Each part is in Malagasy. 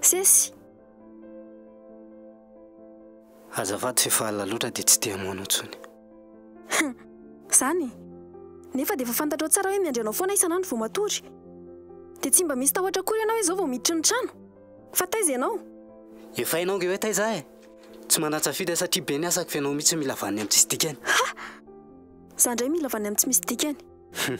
Sesy. Azafady fa efa alina loatra dia tsy te hamoha anao intsony. Izany e. Nefa dia efa fantatrao tsara hoe miandry anao foana isan'andro vao matory. Dia tsy mba misy tahotra akory ianao hoe izao vao miditra ny trano. Fa taiza ianao? Efa hainao ange hoe taiza aho e. Tsy manan-tsafidy aho satria be ny asako fa ianao mihitsy mila vaniny amin'ny tsisy dikany. Ha! Za indray mila vaniny amin'ny tsy misy dikany. Hum.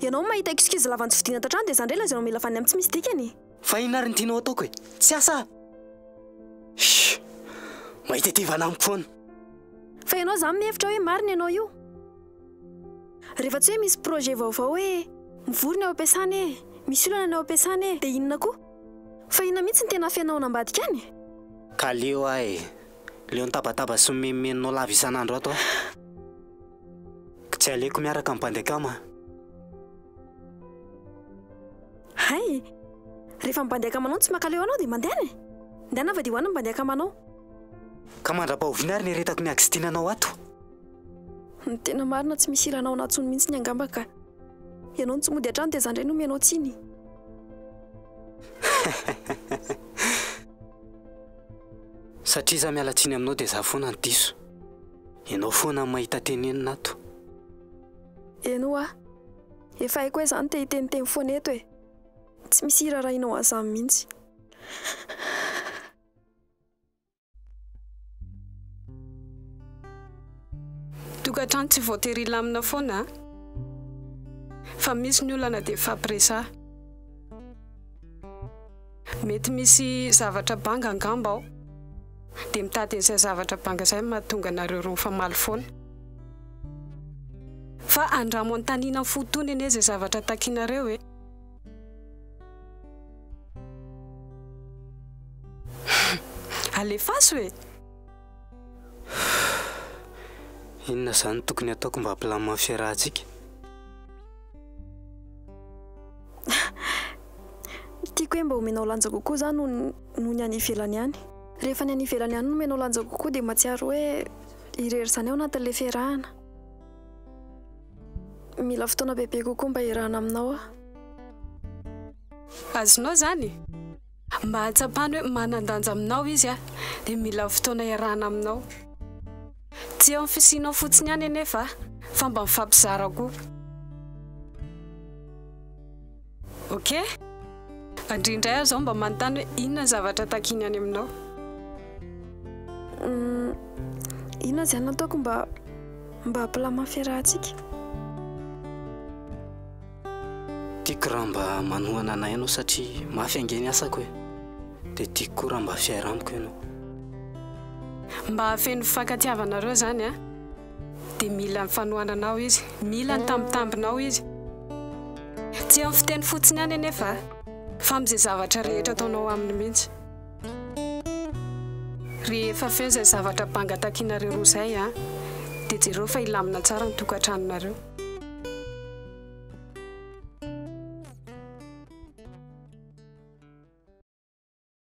Ianao mahita excuse lava notsofidiana ato an-trano dia za indray lazainao mila vaniny amin'ny tsy misy dikany e! Fa inona ary ny tianao ataoko e? Tsy asa aho! Shh! Mahita ity vanany foana. Fa ianao zany mihevitra hoe marina ianao io. Rehefa tsy hoe misy projet vaovao hoe mivory ny ao am-piasana e, misy olana ny ao am-piasana e, dia inona koa? Fa inona mihitsy no tena afenao any ambadika any? Ka leo aho e! Leo nitabataba sy nomenomenonao lava isan'andro ato aho. Ka tsy aleoko miaraka amin'ny bandy akama an! Hay! Rehefa ny bandy akamanao no tsy mankaleo anao dia mandehana e! Ndana avadiho any ny bandy akamanao. Ka mandra-pahoviana ary ny aretako miagistinanao ato? Ny tena marina tsy misy ilanao anah tsony mintsiny angamba ka. Ianao no tsy mody atrany dia za ndray no omenao tsiny. Satria za miala tsiny aminao dia za foana no diso. Ianao foana no mahita tenenina ato. Eny hoa. Efa haiko hoe za no te hiteniteny foana eto e. Tsy misy hirarahianao an'izany mintsy. Tokantrano tsy voatery hilamina foana a! Fa misy ny olana dia hifampiresaha. Mety misy zavatra banga angamba ao, dia mitady an'izay zavatra banga izay no mahatonga anareo roa mifamaly foana. Fa andramo anontanina ny fo tony anie izay zavatra takinareo e! Alefaso e! Inona izany no tokony hataoko mba hampilamina ny fiarahantsika? Ny tiako hoe mba omenao lanja kokoa izaho noho ny, noho ny any ivelany any. Rehefa ny any ivelany any no omenao lanja kokoa dia mahatsiaro hoe irery izany ao anatin'ilay fiarahana. Mila fotoana bebe kokoa mba hiarahana aminao aho. Azonao izany? Mba hahatsapany hoe manan-danja aminao izy aho, dia mila fotoana hiarahana aminao. Tsy eo amin'ny fisianao fotsiny ihany anefa aho, fa mba mifampizara koa. Ok. Andria indray aho zao mba manontany hoe inona ny zavatra takiany any aminao. Uhm, inona izany ataoko mba mba hampilamà fiarahantsika? Tiako raha mba manohana anay ianao satria mafy ange ny asako e. Dia tiako koa raha mba fihaira amiko ianao. Mba hahafeno fifankatiavanareo izany an. dia mila ny fanohananao izy, mila ny tambintambinao izy. Tsy amin'ny fiteny fotsiny ihany anefa, fa amin'izay zavatra rehetra ataonao aminy mihitsy. Rehefa feno izay zavatra banga takinareo roa izay, dia jereo fa hilamina tsara ny tokantranonareo.